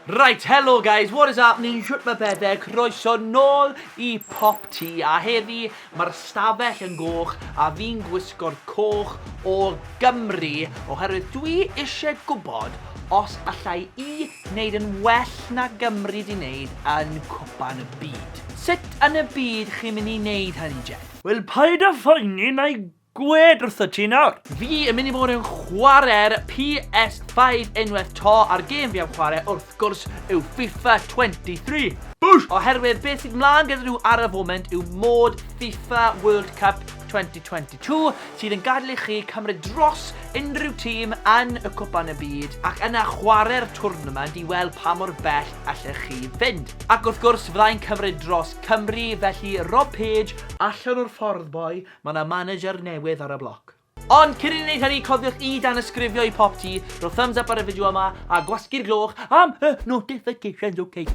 Right, hello guys, what is happening, shwt mae pethau, croeso nôl i Pop T, a heddi mae'r stafell yn goch a fi'n gwisgo'r coch o Gymru, oherwydd dwi eisiau gwybod os allai i wneud yn well na Gymru di wneud yn cwpan y byd. Sut yn y byd chi'n mynd i wneud hynny, Jed? Wel, paid â phoeni, na i Gwed wrtho ti nawr! Fi yn mynd i fod yn chware'r PS5 unwaith to a'r gêm fi am chware wrth gwrs yw FIFA 23. Boosh! Oherwydd beth sydd mlaen gyda nhw ar y foment yw mod FIFA World Cup 2022 sydd yn gadael i chi cymryd dros unrhyw tîm yn y Cwpan y Byd ac yna chware'r twrnament i weld pa mor bell allech chi fynd. Ac wrth gwrs fyddai'n cymryd dros Cymru felly Rob Page allan o'r ffordd boi Mae 'na manager newydd ar y bloc. Ond cyn i ni wneud hynny, cofiwch i danysgrifio i Popty, rho thumbs up ar y fideo yma, a gwasgu'r gloch am y notifications ok?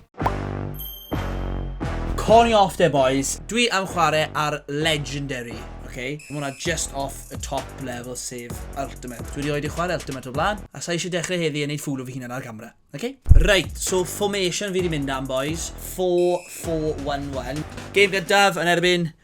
Call me off there boys, dwi am chwarae ar legendary ok? Mae hwnna just off y top level sef ultimate. Dwi rioed 'di chwarae ultimate o'r blaen, a sa i eisiau dechrau heddi a wneud ffŵl o fy hunan ar gamera, ok? Reit, so formation fi 'di mynd am boys, four four one one. Game gyntaf yn erbyn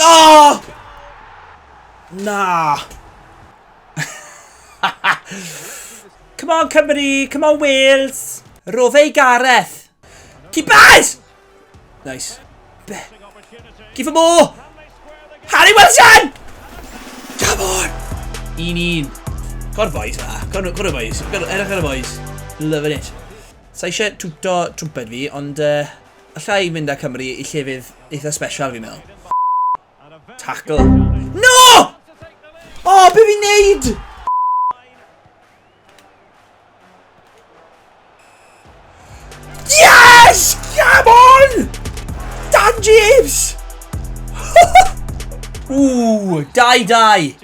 Oh! Na! Come on Cymru! Come on Wales! Rofe Gareth! Keepers! Nice. Be? Give him more! Harry Wilson! Come on! Un un. Gor boys fa. Gor, gor boys. Gor, erach ar y boys. Loving it. Sa eisiau twto twmped fi, ond... Uh, Allai mynd â Cymru i llefydd eitha special fi'n meddwl. Ffff! Tackle. No! O, oh, be fi'n neud? Yes! Come on! Dan James! Ooh, die die!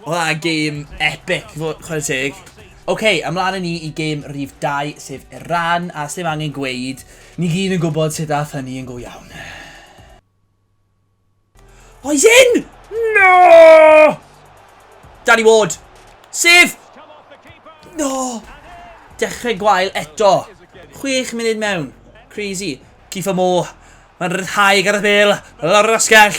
Oedd a game epic, chwarae teg. OK, ymlaen yn ni i game rhif 2, sef Iran, a sy'n angen gweud, ni gyd yn gwybod sut ath hynny yn go iawn. O, he's in! No! Danny Ward! Sef! No! Dechrau gwael eto. Chwech munud mewn. Crazy. Cifa Mo. Mae'n rhyddhau Gareth Bale. Lawr yr asgell.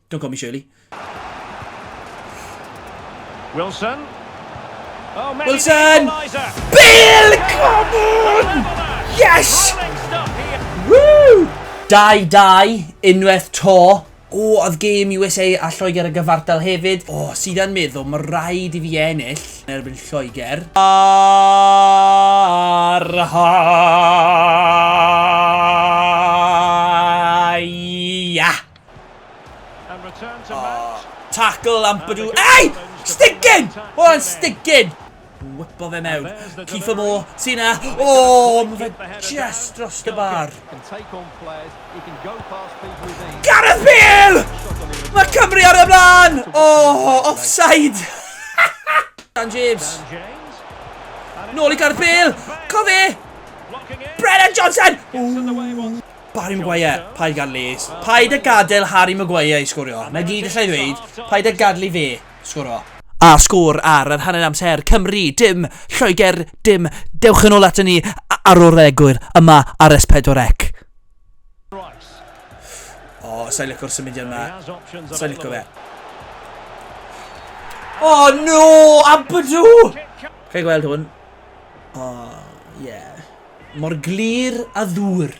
Don't call me Shirley. Wilson. Oh, many Wilson! Bill Common! Yes! Woo! 2-2, unwaith to. O, oedd gêm USA a Lloegr y gyfartal hefyd. O, sydd yn meddwl, mae rhaid i fi ennill yn erbyn Lloegr. Ar ha! Tackle am bydw... Ei! Stigyn! Oedd o'n stigyn! Wypo fe mewn. Kiefer Moore, ti na. O, mae fe just dros y bar. Gareth Bale! Mae Cymru ar y blaen! O, offside! Dan James. Nôl i Gareth Bale. Co fe! Brennan Johnson! Ooh. Barry Maguire, paid gad Lees. Paid a gadael Harry Maguire i sgorio. Na gyd allai ddweud, paid a gadael i fe sgoro. A sgôr ar yr hanner amser, Cymru, dim, Lloegr, dim. Dewch yn ôl ato ni ar ôl yr egwyl, yma ar S4C. O, sa'i licio'r symudiad yma. Sa'i licio fe. O, oh, no! Abadw! Chi'n gweld hwn? O, oh, ie. Yeah. Mor glir a ddŵr.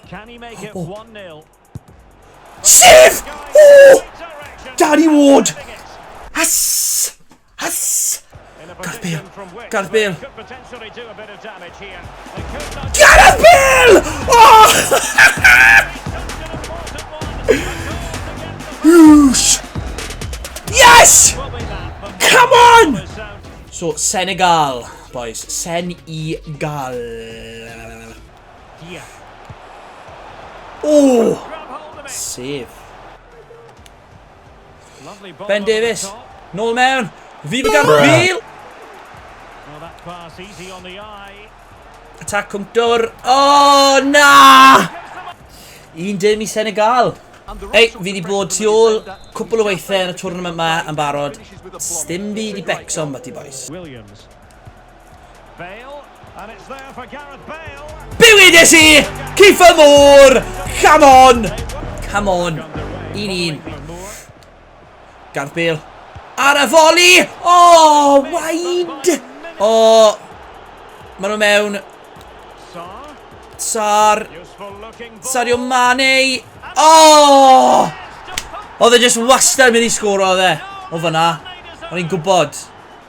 Oh, oh. Sef! Oh! Danny Ward! As! As! Gareth Bale! Gareth Bale! Gareth Bale! Oh! Whoosh! Yes! Come on! So, Senegal. Boys, sen i gal. Dia. O! Sef. Ben Davies, nôl mewn. Fydd y garbil! Attack Cwmtwr. O, oh, na! Un dim i Senegal. Ei, fi wedi bod tu ôl cwpl o weithiau yn y twrnament yma yn barod. Stim fi wedi becso am bati, boys. Williams. Jones. Bale, and it's there for Gareth Bale. Bywyd i si! Kiefer Moore! Come on! Come on! Un un. Gareth Bale. Ar y foli! O, oh, waid! O, oh, maen nhw mewn. Sar. Sario Mane. O! Oh! Oedd e just wastad mynd i sgwr oedd e. O fyna. O'n i'n gwybod.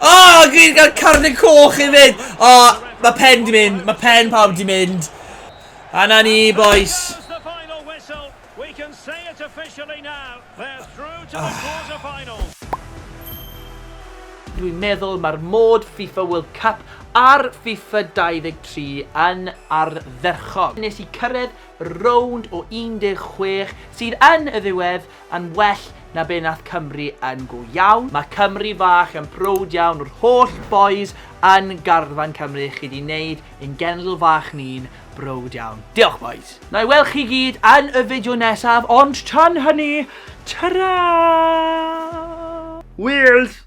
Oh, gyd gael carnau coch i fynd. Oh, mae pen di mynd. Mae pen pawb di mynd. A na ni, boys. Dwi'n meddwl mae'r mod FIFA World Cup ar FIFA 23 yn ardderchog. Nes i cyrraedd rownd o 16 sydd yn y ddiwedd yn well na be nath Cymru yn go iawn, ma Cymru fach yn prowd iawn o'r holl bois yn garfan Cymru chi di neud ein genedl fach ni'n browd iawn. Diolch bois! Nai weld chi gyd yn y fideo nesaf ond tan hynny, tara! Wales!